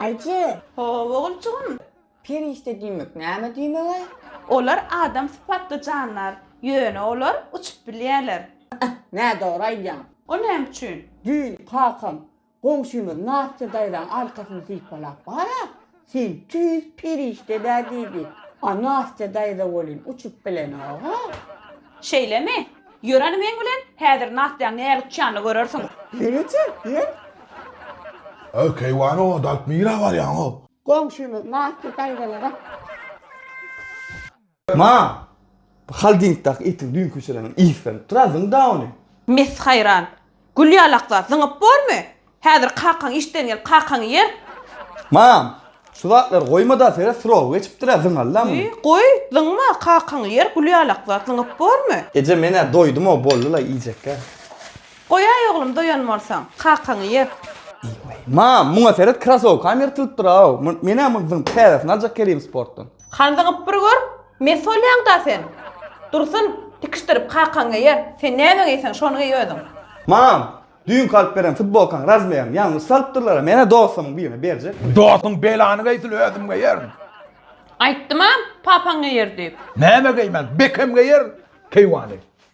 Aýje! Haw, oguljygym! Perişde diýmek näme diýmeg-aý? Olar adam sypatly jandar. Ýöne olar uçup bilýärler. Äh, nädogry aýdýaň! O näme üçin? Düýn kakam goňşymyz Nastýa daýzaň arkasyny sypalap bara, Sen tüýs perişde-dä diýdi. A Nastýa daýza welin uçup bilenok-a. Şeýlemi? Ýöreni meň bilen, häzir Nastýaň näle utýanyny görersiň. Ýeňiljä, ýeň. Öý, keýwany odalyp nirä barýaň-ow? Goňşymyz Nastýa daýzalara. Ma, bu holdingdaky itiň düýnki içirenin ysganyp dur-a, zyň-da ony. Mes haýran. Gül ýalaklar, zyňyp bormy? Häzir kakaň işden gelip kakaňy ýer. Mam, şu zatlary goýma-da, seret, srogy geçipdir-ä, zyňaly-da muny. Ýy, goý, zyňma, kakaňy ýer, gül ýalaklar, zyňyp bormy? Eje, men-ä doýdum-ow, boldy-laý, iýjek-ä. Goýaý, oglum, doýan bolsaň, kakaňy ýer. Ýy-weý, mam, muňa seret, krasowkam ýyrtylypdyr-aw, men-ä muny zyňyp, täzesini aljak gelim sportdan. Hanzygyp bir gör, mes bolýaň-da sen. Dursun, tikişdirip kakaň geýer. Sen näme geýseň, şony geý özüň. Mam, düýnki alyp beren futbolkaň razmerini ýalňyş salypdyrlar-a, men-ä dostumyň birine berjekdim. Dostuň belany geýsin, özüm geýerin. Aýtdym-a, papaň geýer diýip. Näme geýmän, Bekem geýer keýwany.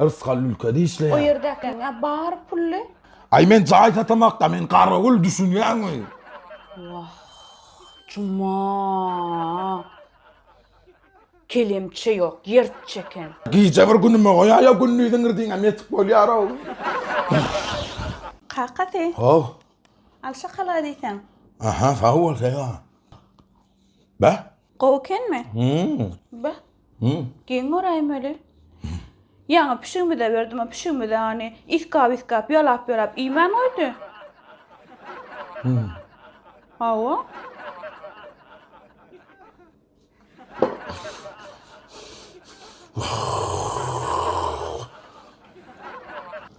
Rysgal ülkede işleýär. O ýerdäkiňe bar pully. Aý men jaý satamakda men garawul düşünýäňmi. Wah Juma. Kelemçe ýok ýertçi eken. Gije bir günüme goýaý ýa gündiziň irdiňem ýetik bolýarow. Kakasy. Haw. Al şokolad iýseň. Aha sag bol Sega. Bä. Gowy ekenmi? Be. Geň göräýmeli. Ýaňy pişigimize berdim, o pişigimiz ony iskap-iskap, ýalap-ýalap iýmän goýdy. Hawa.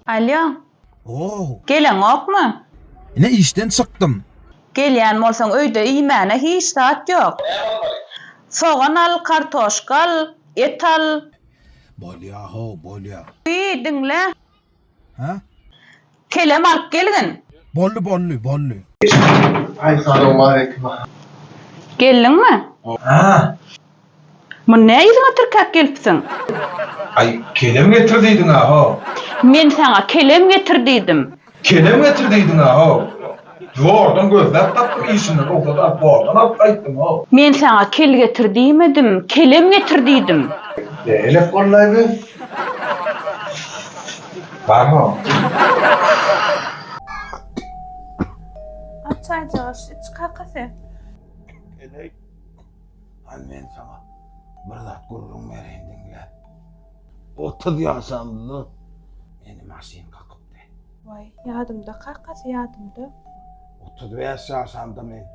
Alýo. Ow! Geleňokmy? Ine işden çykdym. Gelýän bolsaň öýde iýmäne hiç zat ýok. Näme almaly? Sogan al, kartoşka al, et al. Bolýa-how, bolýa. Wiý, diňle. Hä? Kelem alyp gelgin. Boldy, boldy, boldy. Aý, salowmaleýkim. Geldiňmi? Hä. Muny nä yzyňa tirkäp gelipsiň? Aý, kelem getir diýdiň-ä-how! Men saňa kelem getir diýdim. Kelem getir diýdiň-ä-how! Zordan gözläp tapdym, işimden rugsat alyp, zordan alyp gaýtdym-how! Men saňa kel getir diýmedim, kelem getir diýdim. Beýle-le bollaýby? Barmy? Aç çaýjygy, iç kaka sen. Hany men saňa bir zat gürrüň bereýin diňle. Otuz ýaşymda meni maşyn kakypdy. Waý, ýadymda kakasy, ýadymda. Otuz bäş ýaşamda men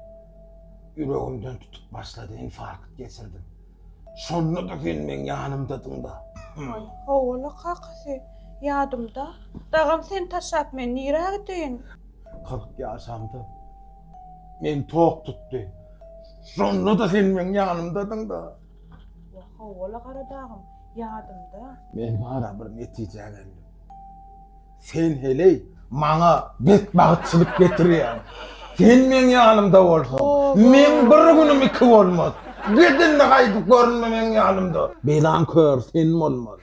ýüregimden tutup başlady, infarkt geçirdim. Şonda-da sen meň ýanymdadyň-da. Waý, hawa-la kakasy, ýadymda. Dagam seni taşlap men nirä gideýin? Kyrk ýaşamda Meni tok tutdy. Şonda-da sen meň ýanymdadyň-da. Wah, hawa-la Garadagym, ýadymda. Men bara bir netijä geldim. Sen heleý maňa betbagtçylyk getirýäň. Sen meň ýanymda bolsaň, meň bir günüm iki bolmaz. Git indi gaýdyp görünme meň ýanymda. Belan kör sen bolmaly.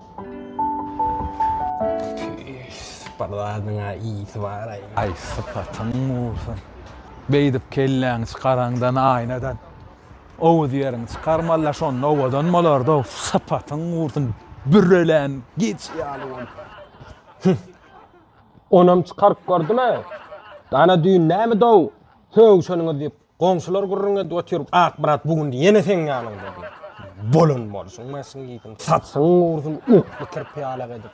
Bir zadyň-a ýiti bar-aý. Aý, sypatyň bolsun. Beýdip kelläňi çykaraňdan aýnadan owuz ýeriňi çykarmaly-da, şonda owadan bolardy-ow. Sypatyň bolsun, bürelän geçi ýaly bolup. Hüh! Onam çykaryp gördümi? Ana düýn nämedi-ow sögüşeniňiz diýip, Goňşular gürrüň edip oturyp, Akmyrat bu gün ýene seň ýanyňda diýip, bolan bolsun, maşyn gitsin, saçyň gursyn, ukly kirpi ýalak edip.